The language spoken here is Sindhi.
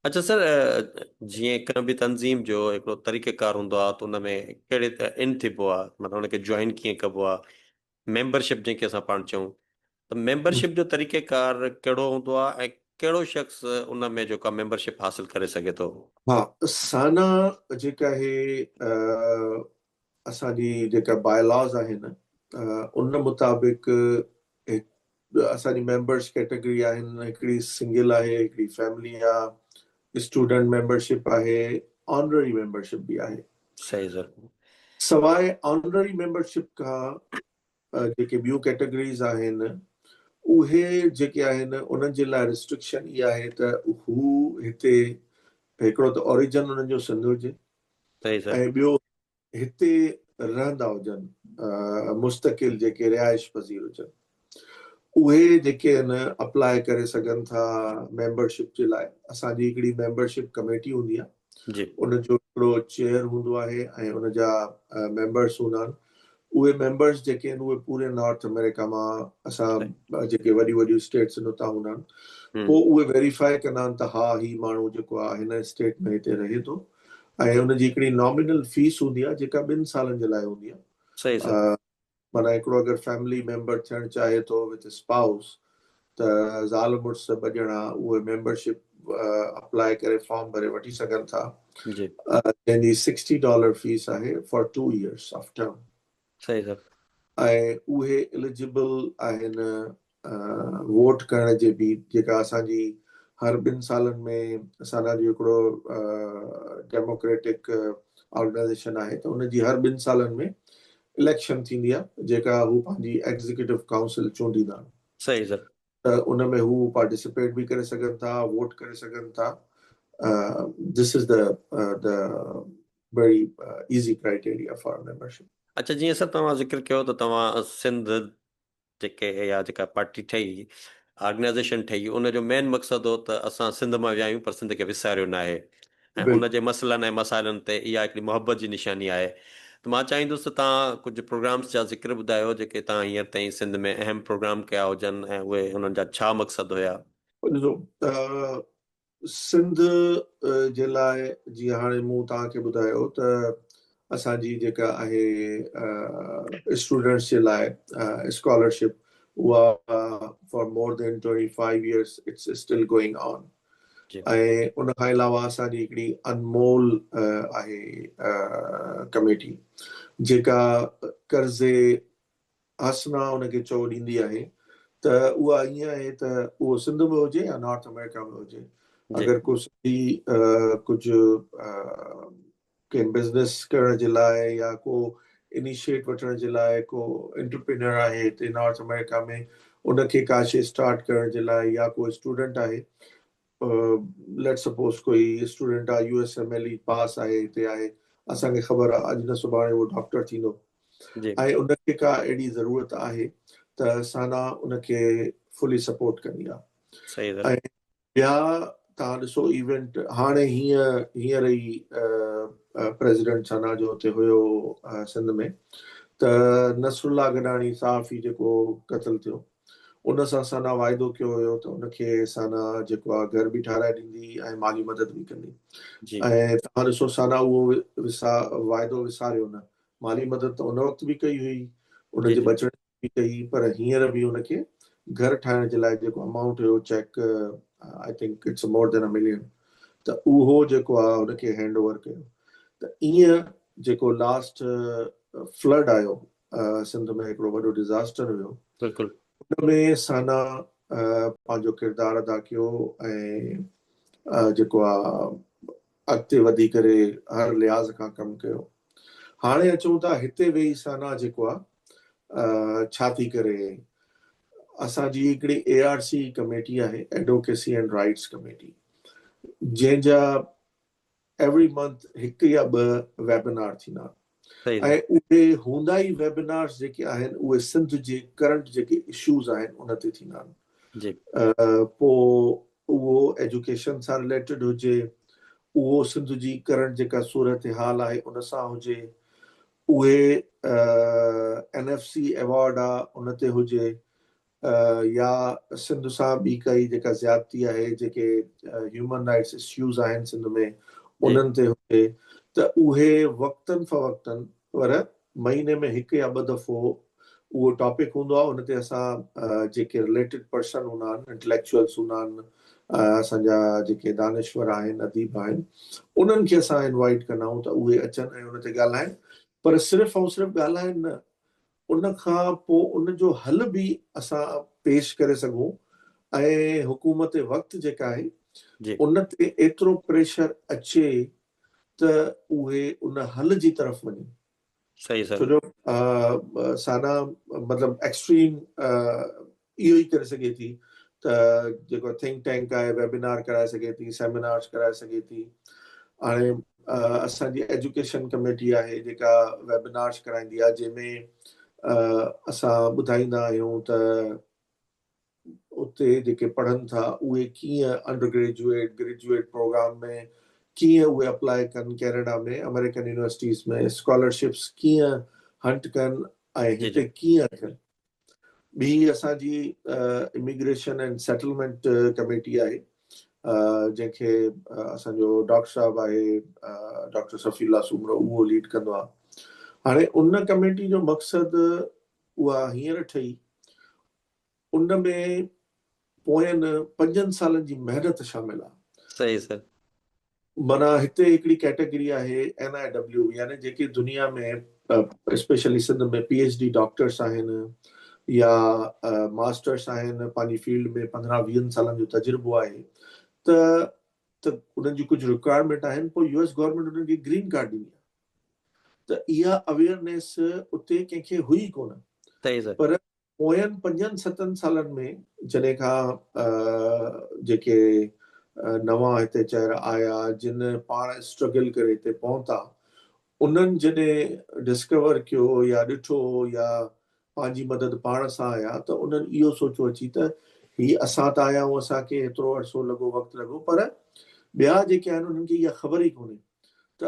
اڇا سر جيئن ڪنهن به تنظيم جو هڪڙو طريقه ڪار هوندو آهي ته ان ۾ ڪهڙي طرح ان ٿيبو آهي مطلب ان کي جوائن ڪيئن ڪبو آهي ميمبرشپ جنهن کي اسان پاڻ چئون ته ميمبرشپ جو طريقه ڪار ڪهڙو هوندو آهي ۽ ڪهڙو شخص ان ۾ جيڪو ميمبرشپ حاصل ڪري سگهي ٿو. ها سانا جيڪا هي اسان جي جيڪا بائي لاز آهن ان مطابق اسان جي ميمبرس ڪيٽيگري آهن هڪڙي سنگل آهي هڪڙي فيملي آ اسٽوڊنٽ ميمبرشپ آهي آنرري ميمبرشپ به آهي صحيح سر سواء آنرري ميمبرشپ کان جيڪي ٻيون ڪيٽيگريز آهن اهي جيڪي آهن انهن جي لاء ريسٽرڪشن اها آهي ته هو هتي هڪڙو ته اوريجن انهن جو سنڌ هجي صحيح سر. ۽ ٻيو هتي رهندا هجن مستقل جيڪي رهائش پذير هجن اهي جيڪي ان اپلاء ڪري سگهن ٿا ميمبر شپ جي لاء اسان جي هڪڙي ميمبر شپ ڪميٽي هوندي آهي ان جو هڪڙو چيئر هوندو آهي ۽ ان جا ميمبرس هوندا آهن اهي ميمبرز جيڪي آهن اهي پوري نارٿ آمريڪا مان اسان جيڪي وڏيون وڏيون اسٽيٽس آهن اتان هوندا آهن پوء اهي ويريفائي ڪندا آهن ته ها هي ماڻهو جيڪو آهي هن اسٽيٽ ۾ هتي رهي ٿو ۽ ان جي هڪڙي نامينل فيس هوندي آهي جيڪا ٻن سالن جي لاء هوندي آهي معنيٰ هڪڙو اگر فيملي ميمبر ٿيڻ چاهي ٿو وٿ اسپائوس ته زال مڙس ٻه ڄڻا اهي ميمبرشپ اپلاء ڪري فارم ڀري وٺي سگهن ٿا جنهن جي سڪسٽي ڊالر فيس آهي for two years of term ۽ اهي اليجبل آهن ووٽ ڪرڻ جي به جيڪا اسان جي هر ٻن سالن ۾ اسان جو هڪڙو ڊيموڪريٽڪ آرگنائيزيشن آهي ته ان جي هر ٻن سالن ۾ اليڪشن ٿيندي آهي جيڪا هو پنهنجي ايگزيڪيوٽو ڪائونسل چونڊيندا آهن صحيح سر. ته ان ۾ هو پارٽيسپيٽ به ڪري سگهن ٿا ووٽ ڪري سگهن ٿا This is the the very easy criteria for membership. اڇا جيئن سر توهان ذڪر ڪيو ته توهان سنڌ جيڪي يا جيڪا پارٽي ٺهي آرگنائيزيشن ٺهي ان جو مين مقصد هو ته اسان سنڌ مان ويا آهيون پر سنڌ کي وساريو ناهي ۽ ان جي مسئلن ۽ مسائلن تي اها هڪڙي محبت جي نشاني آهي ته مان چاهيندس ته توهان ڪجهه پروگرامس جا ذڪر ٻڌايو جيڪي توهان هينئر تائين سنڌ ۾ اهم پروگرام ڪيا هجن ۽ اهي انهن جا ڇا مقصد هيا؟ ڏسو سنڌ جي لاء جيئن هاڻي مون توهان کي ٻڌايو ته اسان جي جيڪا آهي اسٽوڊنٽس جي لاء اسڪالرشپ اها for more than twenty five years it's still going on ۽ ان کان علاوه اسان جي هڪڙي انمول آهي ڪميٽي جيڪا قرض حسنه ان کي چئو ڏيندي آهي ته اها ائين آهي ته اهو سنڌ ۾ هجي يا نارٿ آمريڪا ۾ هجي اگر ڪو سنڌي ڪجهه ڪنهن بزنس ڪرڻ جي لاء يا ڪو انيشيٽ وٺڻ جي لاء ڪو انٽرپرينيور آهي هتي نارٿ آمريڪا ۾ ان کي ڪا شي اسٽارٽ ڪرڻ جي لاء يا ڪو اسٽوڊنٽ آهي ليٽس سپوز ڪوئي اسٽوڊنٽ آهي U S M L E pass آهي هتي آهي اسان کي خبر آهي اڄ نه سڀاڻي اهو ڊاڪٽر ٿيندو ۽ ان کي ڪا اهڙي ضرورت آهي ته سانا ان کي فلي سپورٽ ڪندي آهي ٻيا توهان ڏسو ايونٽ هاڻي هيئن هينئر ئي پريزيڊنٽ ثنا جو اتي هيو سنڌ ۾ ته نصر الله گڏاڻي صحافي جيڪو قتل ٿيو ان سان ثنا واعدو ڪيو هيو ته ان کي ثنا جيڪو آهي گهر به ٺهرائي ڏيندي ۽ مالي مدد به ڪندي ۽ توهان ڏسو ثنا اهو وسا واعدو وساريو نه مالي مدد ته ان وقت به ڪئي هئي ان جي بچڻ به ڪئي پر هينئر به ان کي گهر ٺاهڻ جي لاء جيڪو امائونٽ هيو check I think it's more than a million ته اهو جيڪو آ ان کي هينڊ اوور ڪيو ته ايئن جيڪو لاسٽ فلڊ آيو سنڌ ۾ هڪڙو وڏو ڊزاسٽر هيو بلڪل ان ۾ سانا پنهنجو ڪردار ادا ڪيو ۽ جيڪو آ اڳتي وڌي ڪري هر لحاظ کان ڪم ڪيو. هاڻي اچون ٿا هتي ويهي سانا جيڪو آ ڇا ٿي ڪري. اسان جي هڪڙي اي آر سي ڪميٽي آهي ايڊوڪيسي اينڊ رائيٽس ڪميٽي جنهن جا ايوري منٿ هڪ يا ٻه ويبنار ٿيندا آهن. اهي هوندا ئي ويبنارز جيڪي آهن اهي سنڌ جي ڪرنٽ جيڪي اشوز آهن ان تي ٿيندا آهن جي پو اهو ايجوڪيشن سان رليٽيڊ هجي اهو سنڌ جي ڪرنٽ جيڪا صورتحال آهي ان سان هجي اهي اين ايف سي ايوارڊ آ ان تي هجي يا سنڌ سان ٻي ڪائي جيڪا زيادتي آهي جيڪي هيومن رائيٽس اسيوز آهن سنڌ ۾ انهن تي هجي ته اهي وقتن فوقتن پر مهيني ۾ هڪ يا ٻه دفعو اهو ٽاپڪ هوندو آهي ان تي اسان جيڪي رليٽيڊ پرسن هوندا آهن انٽليڪچوئلس هوندا آهن اسان جا جيڪي دانشور آهن اديب آهن انهن کي اسان انوائيٽ ڪندا آهيون ته اهي اچن ۽ ان تي ڳالهائن پر صرف ۽ صرف ڳالهائن نه ان کان پوء ان جو حل به اسان پيش ڪري سگهون ۽ حڪومت وقت جيڪا آهي ان تي ايترو پريشر اچي ته اهي ان حل جي طرف وڃن. صحيح سر. ڇو جو سانا مطلب ايڪسٽريم اهو ئي ڪري سگهي ٿي ته جيڪو ٿنڪ ٽينڪ آهي ويبنار ڪرائي سگهي ٿي سيمينارس ڪرائي سگهي ٿي هاڻي اسان جي ايجوڪيشن ڪميٽي آهي جيڪا ويبنارس ڪرائيندي آهي جنهن ۾ اسان ٻڌائيندا آهيون ته اتي جيڪي پڙهن ٿا اهي ڪيئن انڊر گريجويٽ گريجويٽ پروگرام ۾ ڪيئن اهي اپلائي ڪن ڪينيڊا ۾ امريڪن يونيورسٽيز ۾ اسڪالرشپس ڪيئن هنٽ ڪن ۽ هتي ڪيئن ٿين ٻي اسان جي اميگريشن اينڊ سيٽلمينٽ ڪميٽي آهي جنهن کي اسان جو ڊاڪٽر صاحب آهي ڊاڪٽر صفي الله سومرو اهو ليڊ ڪندو آهي هاڻي ان ڪميٽي جو مقصد اها هينئر ٺهي ان ۾ پوين پنجن سالن جي محنت شامل آهي صحيح سر معنيٰ هتي هڪڙي ڪيٽيگري آهي NIW يعني جيڪي دنيا ۾ specially Sindh ۾ P H D doctors آهن يا ماسٽرس آهن پنهنجي فيلڊ ۾ پندرهن ويهن سالن جو تجربو آهي ته ته انهن جي ڪجهه رڪوائرمينٽ آهن پوء يو ايس گورنمينٽ انهن کي گرين ڪارڊ ڏني آهي ته اها اويئرنيس اتي ڪنهن کي هئي ڪونه پر پوين پنجن ستن سالن ۾ جڏهن کان جيڪي نوان هتي چهرا آيا جن پاڻ اسٽرگل ڪري هتي پهتا انهن جڏهن ڊسڪور ڪيو يا ڏٺو يا پنهنجي مدد پاڻ سان آيا ته انهن اهو سوچو اچي ته هي اسان ته آيا آهيون اسان کي هيترو عرصو لڳو وقت لڳو پر ٻيا جيڪي آهن انهن کي اها خبر ئي ڪونهي ته